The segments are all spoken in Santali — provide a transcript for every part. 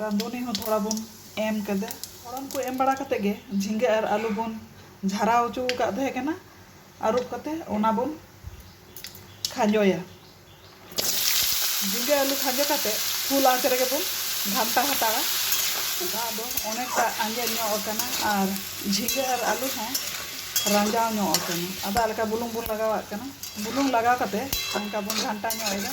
ᱨᱟᱸᱫᱷᱩᱱᱤ ᱦᱚᱸ ᱛᱷᱚᱲᱟ ᱵᱚᱱ ᱮᱢ ᱠᱮᱫᱟ᱾ ᱯᱷᱚᱲᱚᱱ ᱠᱚ ᱮᱢ ᱵᱟᱲᱟ ᱠᱟᱛᱮ ᱜᱮ ᱡᱷᱤᱸᱜᱟᱹ ᱟᱨ ᱟᱹᱞᱩ ᱵᱚᱱ ᱡᱷᱟᱨᱟᱣ ᱦᱚᱪᱚ ᱟᱠᱟᱫ ᱛᱟᱦᱮᱸ ᱠᱟᱱᱟ ᱟᱹᱨᱩᱵ ᱠᱟᱛᱮ ᱚᱱᱟ ᱵᱚᱱ ᱠᱷᱟᱸᱡᱚᱭᱟ᱾ ᱡᱷᱤᱸᱜᱟᱹ ᱟᱹᱞᱩ ᱠᱷᱟᱸᱡᱚ ᱠᱟᱛᱮ ᱯᱷᱩᱞ ᱟᱸᱪ ᱨᱮᱜᱮ ᱵᱚᱱ ᱜᱷᱟᱱᱴᱟ ᱦᱟᱛᱟᱲᱟ᱾ ᱫᱟᱜ ᱫᱚ ᱚᱱᱮᱠᱴᱟ ᱟᱸᱡᱮᱫ ᱧᱚᱜ ᱟᱠᱟᱱᱟ ᱟᱨ ᱡᱷᱤᱸᱜᱟᱹ ᱟᱨ ᱟᱹᱞᱩ ᱦᱚᱸ ᱨᱟᱸᱡᱟᱣ ᱧᱚᱜ ᱟᱠᱟᱱᱟ᱾ ᱟᱫᱚ ᱟᱞᱠᱟ ᱵᱩᱞᱩᱝ ᱵᱚᱱ ᱞᱟᱜᱟᱣᱟᱜ ᱠᱟᱱᱟ᱾ ᱵᱩᱞᱩᱝ ᱞᱟᱜᱟᱣ ᱠᱟᱛᱮ ᱚᱱᱠᱟ ᱵᱚᱱ ᱜᱷᱟᱱᱴᱟ ᱧᱚᱜ ᱮᱫᱟ᱾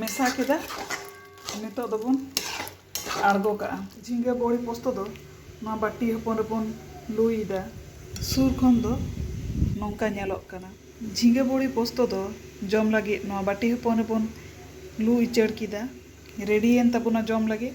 ᱢᱮᱥᱟ ᱠᱮᱫᱟ ᱱᱤᱛᱚᱜ ᱫᱚᱵᱚᱱ ᱟᱬᱜᱚ ᱠᱟᱜᱼᱟ ᱡᱷᱤᱸᱜᱟᱹ ᱵᱚᱲᱤ ᱯᱚᱥᱛᱚ ᱫᱚ ᱱᱚᱣᱟ ᱵᱟᱹᱴᱤ ᱦᱚᱯᱚᱱ ᱨᱮᱵᱚᱱ ᱞᱩᱭᱮᱫᱟ ᱥᱩᱨ ᱠᱷᱚᱱ ᱫᱚ ᱱᱚᱝᱠᱟ ᱧᱮᱞᱚᱜ ᱠᱟᱱᱟ ᱡᱷᱤᱸᱜᱟᱹ ᱵᱚᱲᱤ ᱯᱚᱥᱛᱚ ᱫᱚ ᱡᱚᱢ ᱞᱟᱹᱜᱤᱫ ᱱᱚᱣᱟ ᱵᱟᱹᱴᱤ ᱦᱚᱯᱚᱱ ᱨᱮᱵᱚᱱ ᱞᱩ ᱩᱪᱟᱹᱲ ᱠᱮᱫᱟ ᱨᱮᱰᱤᱭᱮᱱ ᱛᱟᱵᱚᱱᱟ ᱡᱚᱢ ᱞᱟᱹᱜᱤᱫ